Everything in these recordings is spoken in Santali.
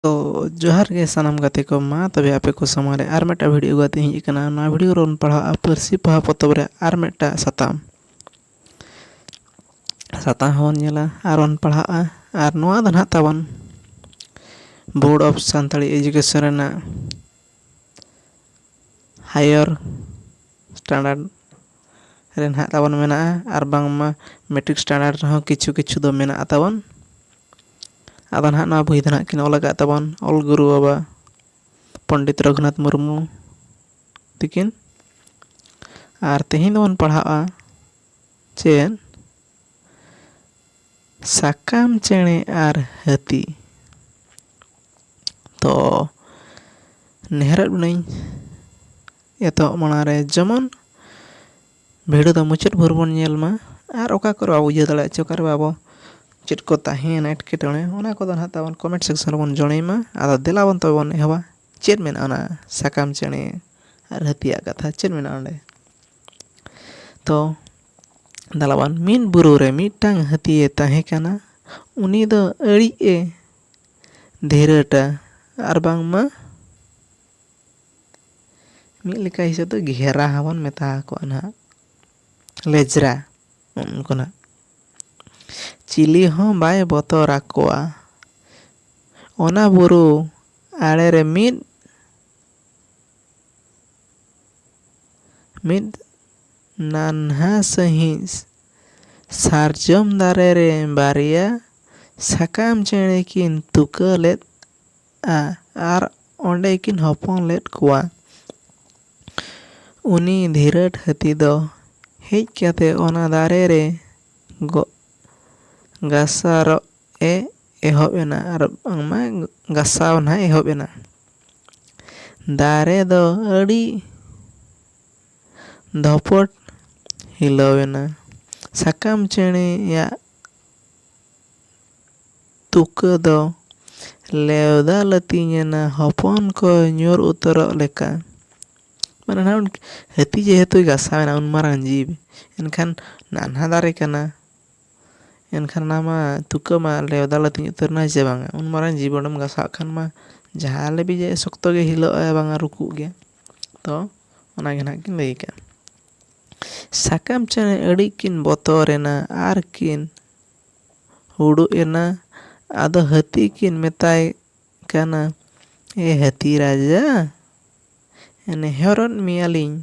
ᱛᱚ ᱡᱚᱦᱟᱨ ᱜᱮ ᱥᱟᱱᱟᱢ ᱜᱟᱛᱮ ᱠᱚ ᱢᱟ ᱛᱚᱵᱮ ᱟᱯᱮ ᱠᱚ ᱥᱟᱢᱟᱝ ᱨᱮ ᱟᱨ ᱢᱤᱫᱴᱟᱝ ᱵᱷᱤᱰᱭᱳ ᱟᱹᱜᱩ ᱠᱟᱛᱮᱫ ᱤᱧ ᱦᱮᱡ ᱟᱠᱟᱱᱟ ᱱᱚᱣᱟ ᱵᱷᱤᱰᱭᱳ ᱨᱮᱵᱚᱱ ᱯᱟᱲᱦᱟᱜᱼᱟ ᱯᱟᱹᱨᱥᱤ ᱯᱚᱦᱟ ᱯᱚᱛᱚᱵ ᱨᱮ ᱟᱨ ᱢᱤᱫᱴᱟᱝ ᱥᱟᱛᱟᱢ ᱥᱟᱛᱟᱢ ᱦᱚᱸᱵᱚᱱ ᱧᱮᱞᱟ ᱟᱨ ᱵᱚᱱ ᱯᱟᱲᱦᱟᱜᱼᱟ ᱟᱨ ᱱᱚᱣᱟ ᱫᱚ ᱦᱟᱸᱜ ᱛᱟᱵᱚᱱ ᱵᱳᱨᱰ ᱚᱯᱷ ᱥᱟᱱᱛᱟᱲᱤ ᱮᱰᱩᱠᱮᱥᱚᱱ ᱨᱮᱱᱟᱜ ᱦᱟᱭᱟᱨ ᱥᱴᱮᱱᱰᱟᱨᱰ ᱨᱮ ᱱᱟᱦᱟᱜ ᱛᱟᱵᱚᱱ ᱢᱮᱱᱟᱜᱼᱟ ᱟᱨ ᱵᱟᱝᱢᱟ ᱢᱮᱴᱨᱤᱠ ᱥᱴᱮᱱᱰᱟᱨᱰ ᱨᱮᱦᱚᱸ ᱠᱤᱪᱷᱩ ᱠᱤᱪᱷᱩ ᱫᱚ ᱢᱮᱱᱟᱜᱼᱟ ᱛᱟᱵᱚᱱ ᱟᱫᱚ ᱱᱟᱦᱟᱜ ᱱᱚᱣᱟ ᱵᱳᱭ ᱫᱚ ᱱᱟᱦᱟᱜ ᱠᱤᱱ ᱚᱞ ᱟᱠᱟᱫ ᱛᱟᱵᱚᱱ ᱚᱞ ᱜᱩᱨᱩ ᱵᱟᱵᱟ ᱯᱚᱱᱰᱤᱛ ᱨᱟᱹᱜᱷᱩᱱᱟᱛᱷ ᱢᱩᱨᱢᱩ ᱛᱤᱠᱤᱱ ᱟᱨ ᱛᱮᱦᱮᱧ ᱫᱚᱵᱚᱱ ᱯᱟᱲᱦᱟᱜᱼᱟ ᱪᱮᱫ ᱥᱟᱠᱟᱢ ᱪᱮᱬᱮ ᱟᱨ ᱦᱟᱹᱛᱤ ᱛᱚ ᱱᱮᱦᱚᱨᱚᱜ ᱠᱟᱹᱱᱟᱹᱧ ᱮᱛᱚᱦᱚᱵ ᱢᱟᱲᱟᱝ ᱨᱮ ᱡᱮᱢᱚᱱ ᱵᱷᱤᱰᱤᱭᱳ ᱫᱚ ᱢᱩᱪᱟᱹᱫ ᱵᱷᱳᱨ ᱵᱚᱱ ᱧᱮᱞ ᱢᱟ ᱟᱨ ᱚᱠᱟ ᱠᱚᱨᱮ ᱵᱟᱵᱚᱱ ᱵᱩᱡᱷᱟᱹᱣ ᱫᱟᱲᱮᱭᱟᱜ ᱪᱚ ᱚᱠᱟᱨᱮ ᱵᱟᱵᱚ ᱪᱮᱫ ᱠᱚ ᱛᱟᱦᱮᱸᱭᱮᱱᱟ ᱮᱴᱠᱮᱴᱚᱬᱮ ᱚᱱᱟ ᱠᱚᱫᱚ ᱦᱟᱸᱜ ᱛᱟᱵᱚᱱ ᱠᱚᱢᱮᱱᱴ ᱥᱮᱠᱥᱚᱱ ᱨᱮᱵᱚᱱ ᱡᱚᱲᱟᱭ ᱢᱟ ᱟᱫᱚ ᱫᱮᱞᱟ ᱵᱚᱱ ᱛᱚᱵᱮ ᱵᱚᱱ ᱮᱦᱚᱵᱟ ᱪᱮᱫ ᱢᱮᱱᱟᱜᱼᱟ ᱚᱱᱟ ᱥᱟᱠᱟᱢ ᱪᱮᱬᱮ ᱟᱨ ᱦᱟᱹᱛᱤᱭᱟᱜ ᱠᱟᱛᱷᱟ ᱪᱮᱫ ᱢᱮᱱᱟᱜᱼᱟ ᱚᱸᱰᱮ ᱛᱚ ᱫᱮᱞᱟᱵᱚᱱ ᱢᱤᱫ ᱵᱩᱨᱩ ᱨᱮ ᱢᱤᱫᱴᱟᱱ ᱦᱟᱹᱛᱤᱭᱮ ᱛᱟᱦᱮᱸ ᱠᱟᱱᱟ ᱩᱱᱤ ᱫᱚ ᱟᱹᱰᱤ ᱮ ᱫᱷᱤᱨᱟᱹᱴᱟ ᱟᱨ ᱵᱟᱝᱢᱟ ᱢᱤᱫ ᱞᱮᱠᱟ ᱦᱤᱥᱟᱹᱵ ᱛᱮ ᱜᱷᱮᱨᱟ ᱦᱚᱸ ᱵᱚᱱ ᱢᱮᱛᱟ ᱟᱠᱚᱣᱟ ᱱᱟᱦᱟᱜ ᱞᱮᱡᱽᱨᱟ ᱩᱱᱠᱩ ᱱᱟᱦᱟᱜ ᱪᱤᱞᱤ ᱦᱚᱸ ᱵᱟᱭ ᱵᱚᱛᱚᱨ ᱟᱠᱚᱣᱟ ᱚᱱᱟ ᱵᱩᱨᱩ ᱟᱲᱮ ᱨᱮ ᱢᱤᱫ ᱢᱤᱫ ᱱᱟᱱᱦᱟ ᱥᱟᱺᱦᱤᱡ ᱥᱟᱨᱡᱚᱢ ᱫᱟᱨᱮ ᱨᱮ ᱵᱟᱨᱭᱟ ᱥᱟᱠᱟᱢ ᱪᱮᱬᱮ ᱠᱤᱱ ᱛᱩᱠᱟᱹ ᱞᱮᱫ ᱟ ᱟᱨ ᱚᱸᱰᱮ ᱠᱤᱱ ᱦᱚᱯᱚᱱ ᱞᱮᱫ ᱠᱚᱣᱟ᱾ ᱩᱱᱤ ᱫᱷᱤᱨᱟᱹᱴ ᱦᱟᱹᱛᱤ ᱫᱚ ᱦᱮᱡ ᱠᱟᱛᱮ ᱚᱱᱟ ᱫᱟᱨᱮ ᱨᱮ ᱜᱚᱜ ᱜᱟᱥᱟᱨᱚᱜ ᱮ ᱮᱦᱚᱵ ᱮᱱᱟ ᱟᱨ ᱵᱟᱝᱢᱟ ᱜᱟᱥᱟᱣ ᱱᱟᱦᱟᱜ ᱮ ᱮᱦᱚᱵ ᱮᱱᱟ᱾ ᱫᱟᱨᱮ ᱫᱚ ᱟᱹᱰᱤ ᱫᱷᱚᱯᱚᱴ ᱦᱤᱞᱟᱹᱣ ᱮᱱᱟ᱾ ᱥᱟᱠᱟᱢ ᱪᱮᱬᱮ ᱭᱟᱜ᱾ ᱛᱩᱠᱟᱹ ᱫᱚ ᱞᱮᱣᱫᱟ ᱞᱟᱹᱛᱤᱧ ᱮᱱᱟ ᱦᱚᱯᱚᱱ ᱠᱚ ᱧᱩᱨ ᱩᱛᱟᱹᱨᱚᱜ ᱞᱮᱠᱟ᱾ ᱢᱟᱱᱮ ᱱᱟᱦᱟᱜ ᱦᱟᱹᱛᱤ ᱡᱮᱦᱮᱛᱩᱭ ᱜᱟᱥᱟᱣ ᱮᱱᱟ ᱩᱱ ᱢᱟᱨᱟᱝ ᱡᱤᱵᱽ ᱮᱱᱠᱷᱟᱱ ᱱᱟᱱᱦᱟ ᱫᱟᱨᱮ ᱠᱟᱱᱟ ᱮᱱᱠᱷᱟᱱ ᱚᱱᱟ ᱢᱟ ᱛᱩᱠᱟᱹ ᱢᱟ ᱞᱮᱣᱫᱟ ᱞᱟᱹᱛᱤᱧ ᱩᱛᱟᱹᱨ ᱮᱱᱟ ᱥᱮ ᱵᱟᱝᱟ ᱩᱱ ᱢᱟᱨᱟᱝ ᱡᱤᱵᱽ ᱚᱸᱰᱮᱢ ᱜᱟᱥᱟᱣ ᱠᱷᱟᱱ ᱢᱟ ᱡᱟᱦᱟᱸ ᱞᱮᱵᱮᱡ ᱮ ᱥᱚᱠᱛᱚ ᱜᱮ ᱦᱤᱞᱟᱹᱜ ᱟᱭ ᱵᱟᱝᱟ ᱨᱩᱠᱩᱜ ᱜᱮᱭᱟ ᱛᱚ ᱚᱱᱟ ᱜᱮ ᱱᱟᱦᱟᱜ ᱠᱤᱱ ᱞᱟᱹᱭ ᱟᱠᱟᱫᱼᱟ ᱥᱟᱠᱟᱢ ᱪᱮᱬᱮ ᱟᱹᱰᱤ ᱠᱤᱱ ᱵᱚᱛᱚᱨ ᱮᱱᱟ ᱟᱨ ᱠᱤᱱ ᱩᱰᱩᱜ ᱮᱱᱟ ᱟᱫᱚ ᱦᱟᱹᱛᱤ ᱠᱤᱱ ᱢᱮᱛᱟᱭ ᱠᱟᱱᱟ ᱮ ᱦᱟᱹᱛᱤ ᱨᱟᱡᱟ ᱱᱮᱦᱚᱨᱚᱫ ᱢᱮᱭᱟᱞᱤᱧ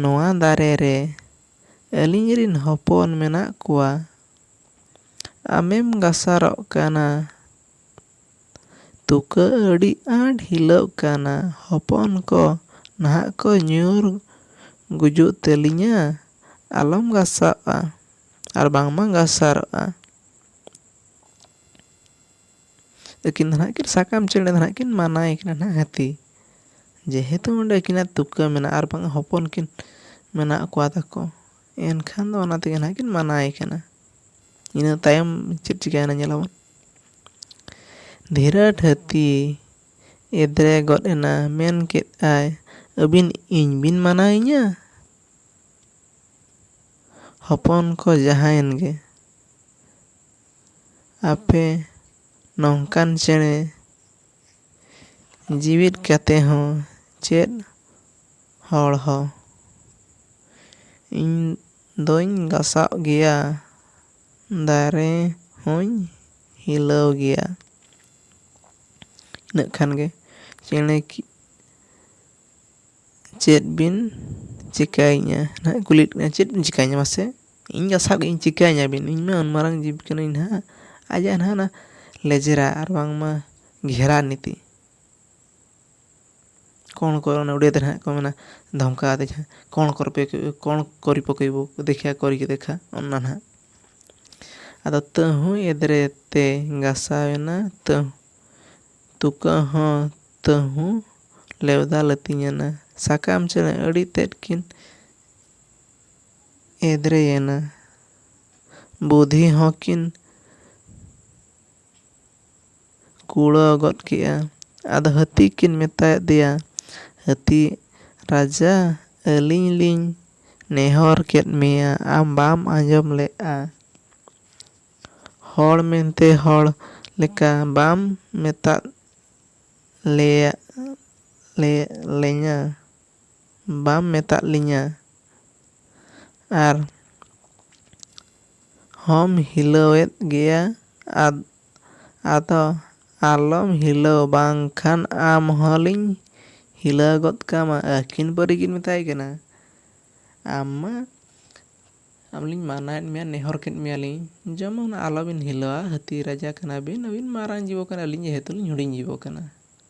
ᱱᱚᱣᱟ ᱫᱟᱨᱮ ᱨᱮ ᱟᱹᱞᱤᱧ ᱨᱤᱱ ᱦᱚᱯᱚᱱ ᱢᱮᱱᱟᱜ ᱠᱚᱣᱟ ᱟᱢᱮᱢ ᱜᱟᱥᱟᱨᱚᱜ ᱠᱟᱱᱟ ᱛᱩᱠᱟᱹ ᱟᱹᱰᱤ ᱟᱸᱴ ᱦᱤᱞᱟᱹᱣᱜ ᱠᱟᱱᱟ ᱦᱚᱯᱚᱱ ᱠᱚ ᱱᱟᱦᱟᱜ ᱠᱚ ᱧᱩᱨ ᱜᱩᱡᱩᱜ ᱛᱟᱹᱞᱤᱧᱟ ᱟᱞᱚᱢ ᱜᱟᱥᱟᱣᱜᱼᱟ ᱟᱨ ᱵᱟᱝᱢᱟ ᱜᱟᱥᱟᱨᱚᱜᱼᱟ᱾ ᱟᱹᱠᱤᱱ ᱫᱚ ᱱᱟᱦᱟᱜ ᱠᱤᱱ ᱥᱟᱠᱟᱢ ᱪᱮᱬᱮ ᱫᱚ ᱱᱟᱦᱟᱜ ᱠᱤᱱ ᱢᱟᱱᱟᱭᱮ ᱠᱟᱱᱟ ᱱᱟᱦᱟᱜ ᱦᱟᱹᱛᱤ ᱡᱮᱦᱮᱛᱩ ᱚᱸᱰᱮ ᱟᱹᱠᱤᱱᱟᱜ ᱛᱩᱠᱟᱹ ᱢᱮᱱᱟᱜᱼᱟ ᱟᱨ ᱵᱟᱝ ᱦᱚᱯᱚᱱ ᱠᱤᱱ ᱢᱮᱱᱟᱜ ᱠᱚᱣᱟ ᱛᱟᱠᱚ᱾ ᱮᱱᱠᱷᱟᱱ ᱫᱚ ᱚᱱᱟ ᱛᱮᱜᱮ ᱱᱟᱦᱟᱜ ᱠᱤᱱ ᱢᱟᱱᱟᱭᱮ ᱠᱟᱱᱟ ᱤᱱᱟᱹ ᱛᱟᱭᱚᱢ ᱪᱮᱫ ᱪᱤᱠᱟᱹᱭᱮᱱᱟ ᱧᱮᱞ ᱟᱵᱚᱱ ᱫᱷᱤᱨᱟᱹᱰ ᱦᱟᱹᱛᱤ ᱮᱫᱽᱨᱮ ᱜᱚᱫ ᱮᱱᱟ ᱢᱮᱱ ᱠᱮᱫ ᱟᱭ ᱟᱹᱵᱤᱱ ᱤᱧ ᱵᱤᱱ ᱢᱟᱱᱟᱭᱤᱧᱟᱹ ᱦᱚᱯᱚᱱ ᱠᱚ ᱡᱟᱦᱟᱸᱭᱮᱱ ᱜᱮ ᱟᱯᱮ ᱱᱚᱝᱠᱟᱱ ᱪᱮᱬᱮ ᱡᱤᱣᱤᱫ ᱠᱟᱛᱮ ᱦᱚᱸ ᱪᱮᱫ ᱦᱚᱲ ᱦᱚ᱾ ᱤᱧ ᱫᱚᱧ ᱜᱟᱥᱟᱣ ᱜᱮᱭᱟ ᱫᱟᱨᱮ ᱦᱚᱧ ᱦᱤᱞᱟᱹᱣ ᱜᱮᱭᱟ᱾ ᱤᱱᱟᱹᱜ ᱠᱷᱟᱱ ᱜᱮ ᱪᱮᱬᱮ ᱪᱮᱫ ᱵᱤᱱ ᱪᱮᱠᱟᱭᱤᱧᱟ ᱱᱟᱦᱟᱜ ᱮ ᱠᱩᱞᱤᱭᱮᱫ ᱵᱮᱱᱟ ᱪᱮᱫ ᱵᱤᱱ ᱪᱮᱠᱟᱭᱤᱧᱟ ᱢᱟᱥᱮ? ᱤᱧ ᱜᱮ ᱥᱟᱵ ᱠᱟᱛᱮᱫ ᱪᱤᱠᱟᱹᱧᱟ ᱵᱤᱱ ᱤᱧ ᱢᱟ ᱩᱱ ᱢᱟᱨᱟᱝ ᱡᱤᱵᱽ ᱠᱟᱹᱱᱟᱹᱧ ᱱᱟᱦᱟᱜ ᱟᱡᱟᱜ ᱱᱟᱦᱟᱜ ᱚᱱᱟ ᱞᱮᱡᱽᱨᱟ ᱟᱨ ᱵᱟᱝᱢᱟ ᱜᱷᱮᱨᱟ ᱱᱤᱛᱤ ᱠᱚᱬ ᱠᱚ ᱚᱱᱟ ᱩᱲᱤᱭᱟ ᱛᱮ ᱱᱟᱦᱟᱜ ᱠᱚ ᱢᱮᱱᱟ ᱫᱷᱚᱢᱠᱟᱣ ᱟᱫᱮ ᱠᱷᱟᱱ ᱠᱚᱬ ᱠᱚᱨᱯᱮ ᱠᱚᱬ ᱠᱚᱨᱤ ᱯᱚᱠᱮ ᱵᱳ ᱫᱮᱠᱷᱮᱭᱟ ᱠᱚᱨᱤ ᱠᱮ ᱫᱮᱠᱷᱟ ᱚᱱᱟ ᱱᱟᱦᱟᱜ ᱟᱫᱚ ᱛᱟᱹᱦᱩᱭ ᱮᱫᱽᱨᱮ ᱛᱮ ᱜᱟᱥᱟᱣ ᱮᱱᱟ ᱛᱟᱹᱦᱩ ᱛᱩᱠᱟᱹ ᱦᱚᱸ ᱛᱟᱹᱦᱩ ᱞᱮᱣᱫᱟ ᱞᱟᱹᱛᱤᱧ ᱮᱱᱟ ᱥᱟᱠᱟᱢ ᱪᱮᱬᱮ ᱟᱹᱰᱤ ᱛᱮᱫ ᱠᱤᱱ ᱮᱫᱽᱨᱮᱭᱮᱱᱟ᱾ ᱵᱩᱫᱷᱤ ᱦᱚᱸ ᱠᱤᱱ ᱠᱩᱲᱟᱹᱣ ᱜᱚᱫ ᱠᱮᱫᱼᱟ᱾ ᱟᱫᱚ ᱦᱟᱹᱛᱤ ᱠᱤᱱ ᱢᱮᱛᱟᱭ ᱟᱫᱮᱭᱟ, ᱦᱟᱹᱛᱤ ᱨᱟᱡᱟ ᱟᱹᱞᱤᱧ ᱞᱤᱧ ᱱᱮᱦᱚᱨ ᱠᱮᱫ ᱢᱮᱭᱟ ᱟᱢ ᱵᱟᱢ ᱟᱸᱡᱚᱢ ᱞᱮᱫᱼᱟ᱾ ᱦᱚᱲ ᱢᱮᱱᱛᱮ ᱦᱚᱲ ᱞᱮᱠᱟ ᱵᱟᱢ ᱢᱮᱛᱟᱫ ᱞᱮᱭᱟ ᱞᱮ ᱞᱤᱧᱟ᱾ ᱵᱟᱢ ᱢᱮᱛᱟᱫ ᱞᱤᱧᱟ ᱟᱨ ᱦᱚᱸᱢ ᱦᱤᱞᱟᱹᱣᱮᱫ ᱜᱮᱭᱟ ᱟᱫ ᱟᱫᱚ ᱟᱞᱚᱢ ᱦᱤᱞᱟᱹᱣ ᱵᱟᱝ ᱠᱷᱟᱱ ᱟᱢ ᱦᱚᱸ ᱞᱤᱧ ᱦᱤᱞᱟᱹᱣ ᱜᱚᱫ ᱠᱟᱢᱟ ᱟᱹᱠᱤᱱ ᱯᱟᱹᱨᱤ ᱠᱤᱱ ᱢᱮᱛᱟᱭ ᱠᱟᱱᱟ ᱟᱢ ᱢᱟ ᱟᱢ ᱞᱤᱧ ᱢᱟᱱᱟᱭᱮᱫ ᱢᱮᱭᱟ ᱱᱮᱦᱚᱨ ᱠᱮᱫ ᱢᱮᱭᱟ ᱞᱤᱧ ᱡᱮᱢᱚᱱ ᱟᱞᱚ ᱵᱤᱱ ᱦᱤᱞᱟᱹᱣᱟ ᱦᱟᱹᱛᱤ ᱨᱟᱡᱟ ᱠᱟᱱᱟ ᱵᱤᱱ ᱟᱹᱵᱤᱱ ᱢᱟᱨᱟᱝ ᱡᱤᱵᱚ ᱠᱟᱱᱟ ᱟᱹᱞᱤᱧ ᱡᱮᱦᱮᱛᱩ ᱞᱤᱧ ᱦᱩᱰᱤᱧ ᱡᱤᱵᱚ ᱠᱟᱱᱟ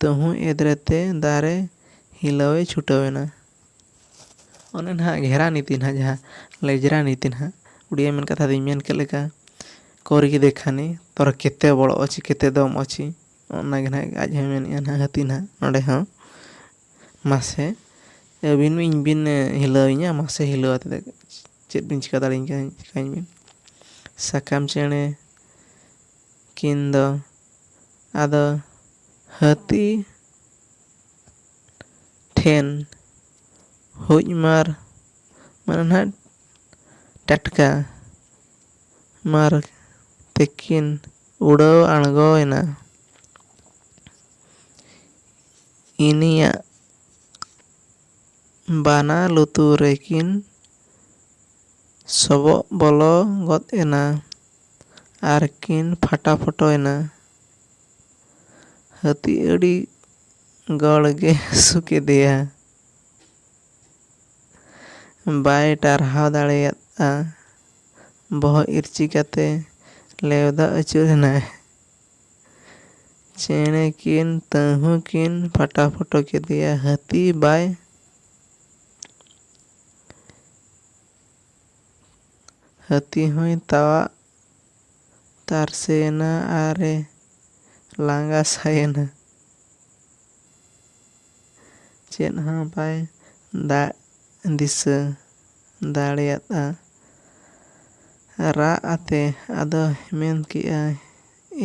ᱛᱟᱹᱦᱩᱸᱭ ᱮᱫᱽᱨᱮ ᱛᱮ ᱫᱟᱨᱮ ᱦᱤᱞᱟᱹᱣ ᱮ ᱪᱷᱩᱴᱟᱹᱣ ᱮᱱᱟ᱾ ᱚᱱᱮ ᱱᱟᱦᱟᱜ ᱜᱷᱮᱨᱟ ᱱᱤᱛᱤ ᱱᱟᱦᱟᱜ ᱡᱟᱦᱟᱸ ᱞᱮᱡᱽᱨᱟ ᱱᱤᱛᱤ ᱱᱟᱦᱟᱜ ᱩᱰᱤᱭᱟ ᱢᱮᱱ ᱠᱟᱛᱷᱟ ᱫᱚᱧ ᱢᱮᱱ ᱠᱮᱫ ᱞᱮᱠᱟ ᱠᱚᱨᱜᱤ ᱫᱮᱠᱷᱟᱱᱤ ᱛᱚᱨ ᱠᱮᱛᱮ ᱵᱚᱲ ᱚᱪᱤ ᱠᱮᱛᱮ ᱫᱚᱢ ᱚᱪᱤ ᱚᱱᱟ ᱜᱮ ᱱᱟᱦᱟᱜ ᱟᱡ ᱦᱚᱸᱭ ᱢᱮᱱᱮᱜᱼᱟ ᱱᱟᱦᱟᱜ ᱦᱟᱹᱛᱤ ᱱᱟᱦᱟᱜ ᱱᱚᱰᱮ ᱦᱚᱸ ᱢᱟᱥᱮ ᱟᱹᱵᱤᱱ ᱤᱧ ᱵᱤᱱ ᱦᱤᱞᱟᱹᱣ ᱤᱧᱟ ᱢᱟᱥᱮ ᱦᱤᱞᱟᱹᱣ ᱟᱛᱮᱫ ᱪᱮᱫ ᱵᱤᱱ ᱪᱤᱠᱟᱹ ᱫᱟᱲᱮᱭᱟᱹᱧ ᱠᱟᱱᱟ ᱪᱤᱠᱟᱹᱧ ᱵᱤᱱ ᱥᱟᱠᱟᱢ ᱪᱮᱬᱮ ᱠᱤᱱ ᱫᱚ ᱟᱫᱚ ᱦᱟᱹᱛᱤ ᱴᱷᱮᱱ ᱦᱩᱡ ᱢᱟᱨ ᱢᱟᱱᱮ ᱱᱟᱦᱟᱜ ᱴᱟᱴᱠᱟ ᱢᱟᱨ ᱛᱮᱠᱤᱱ ᱩᱰᱟᱹᱣ ᱟᱬᱜᱚ ᱮᱱᱟ᱾ ᱤᱱᱤᱭᱟᱜ ᱵᱟᱱᱟ ᱞᱩᱛᱩᱨ ᱨᱮᱠᱤᱱ ᱥᱚᱵᱚᱜ ᱵᱚᱞᱚ ᱜᱚᱫ ᱮᱱᱟ᱾ ᱟᱨᱠᱤᱱ ᱯᱷᱟᱴᱟᱯᱷᱚᱴᱚ ᱮᱱᱟ᱾ ᱦᱟᱹᱛᱤ ᱟᱹᱰᱤ ᱜᱚᱲ ᱜᱮ ᱦᱟᱹᱥᱩ ᱠᱮᱫᱮᱭᱟ᱾ ᱵᱟᱭ ᱴᱟᱨᱦᱟᱣ ᱫᱟᱲᱮᱭᱟᱫᱼᱟ᱾ ᱵᱚᱦᱚᱜ ᱤᱨᱪᱤ ᱠᱟᱛᱮ ᱞᱮᱣᱫᱟ ᱟᱹᱪᱩᱨ ᱮᱱᱟᱭ᱾ ᱪᱮᱬᱮ ᱠᱤᱱ ᱛᱟᱹᱦᱩ ᱠᱤᱱ ᱯᱷᱟᱴᱟᱯᱷᱚᱴᱚ ᱠᱮᱫᱮᱭᱟ᱾ ᱦᱟᱹᱛᱤ ᱵᱟᱭ᱾ ᱦᱟᱹᱛᱤ ᱦᱚᱸᱭ ᱛᱟᱣᱟᱜ ᱛᱟᱨᱥᱮᱭᱮᱱᱟ ᱟᱨ ᱮ ᱞᱟᱸᱜᱟ ᱥᱟᱭᱮᱱᱟ᱾ ᱪᱮᱫ ᱦᱚᱸ ᱵᱟᱭ ᱫᱟᱜ ᱫᱤᱥᱟᱹ ᱫᱟᱲᱮᱭᱟᱫᱼᱟ᱾ ᱨᱟᱜ ᱟᱛᱮ ᱟᱫᱚ ᱢᱮᱱ ᱠᱮᱫᱼᱟ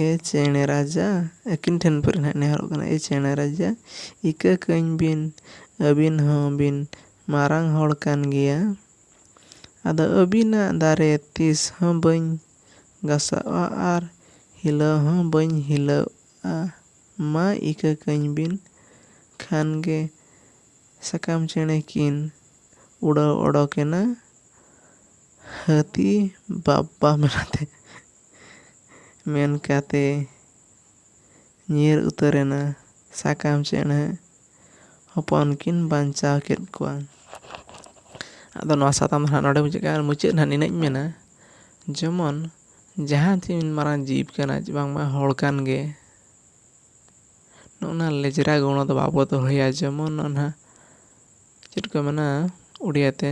ᱮ ᱪᱮᱬᱮ ᱨᱟᱡᱟ ᱟᱹᱠᱤᱱ ᱴᱷᱮᱱ ᱯᱟᱹᱨᱤ ᱱᱟᱦᱟᱜ ᱮ ᱱᱮᱦᱚᱨᱚᱜ ᱠᱟᱱᱟ ᱮ ᱪᱮᱬᱮ ᱨᱟᱡᱟ ᱤᱠᱟᱹ ᱠᱟᱹᱧ ᱵᱤᱱ ᱟᱹᱵᱤᱱ ᱦᱚᱸ ᱵᱤᱱ ᱢᱟᱨᱟᱝ ᱦᱚᱲ ᱠᱟᱱ ᱜᱮᱭᱟ᱾ ᱟᱫᱚ ᱟᱹᱵᱤᱱᱟᱜ ᱫᱟᱨᱮ ᱛᱤᱥ ᱦᱚᱸ ᱵᱟᱹᱧ ᱜᱟᱥᱟᱣᱜᱼᱟ ᱟᱨ ᱦᱤᱞᱟᱹᱣ ᱦᱚᱸ ᱵᱟᱹᱧ ᱦᱤᱞᱟᱹᱣᱜᱼᱟ ᱢᱟ ᱤᱠᱟᱹ ᱠᱟᱹᱧ ᱵᱤᱱ᱾ ᱠᱷᱟᱱ ᱜᱮ ᱥᱟᱠᱟᱢ ᱪᱮᱬᱮ ᱠᱤᱱ ᱩᱰᱟᱹᱣ ᱚᱰᱚᱠ ᱮᱱᱟ ᱦᱟᱹᱛᱤ ᱵᱟᱵᱵᱟ ᱢᱮᱱᱟᱛᱮ᱾ ᱢᱮᱱ ᱠᱟᱛᱮ᱾ ᱧᱤᱨ ᱩᱛᱟᱹᱨ ᱮᱱᱟ ᱥᱟᱠᱟᱢ ᱪᱮᱬᱮ ᱦᱚᱯᱚᱱ ᱠᱤᱱ ᱵᱟᱧᱪᱟᱣ ᱠᱮᱫ ᱠᱚᱣᱟ ᱟᱫᱚ ᱱᱚᱣᱟ ᱥᱟᱛᱟᱢ ᱫᱚ ᱦᱟᱸᱜ ᱱᱚᱰᱮ ᱢᱩᱪᱟᱹᱫ ᱠᱟᱜᱼᱟ ᱟᱨ ᱢᱩᱪᱟᱹᱫ ᱨᱮ ᱦᱟᱸᱜ ᱱᱤᱱᱟᱹᱜ ᱤᱧ ᱢᱮᱱᱟ ᱡᱮᱢᱚᱱ ᱡᱟᱦᱟᱸ ᱛᱤᱱ ᱢᱟᱨᱟᱝ ᱡᱤᱵᱽ ᱠᱟᱱᱟᱭ ᱪᱮ ᱵᱟᱝᱢᱟ ᱦᱚᱲ ᱠᱟᱱ ᱜᱮ ᱱᱚᱜᱼᱚ ᱱᱟ ᱞᱮᱡᱽᱨᱟ ᱜᱚᱲᱚ ᱫᱚ ᱵᱟᱵᱚ ᱫᱚᱦᱚᱭᱟ ᱡᱮᱢᱚᱱ ᱚᱱᱟ ᱪᱮᱫ ᱠᱚ ᱢᱮᱱᱟ ᱳᱰᱤᱭᱟ ᱛᱮ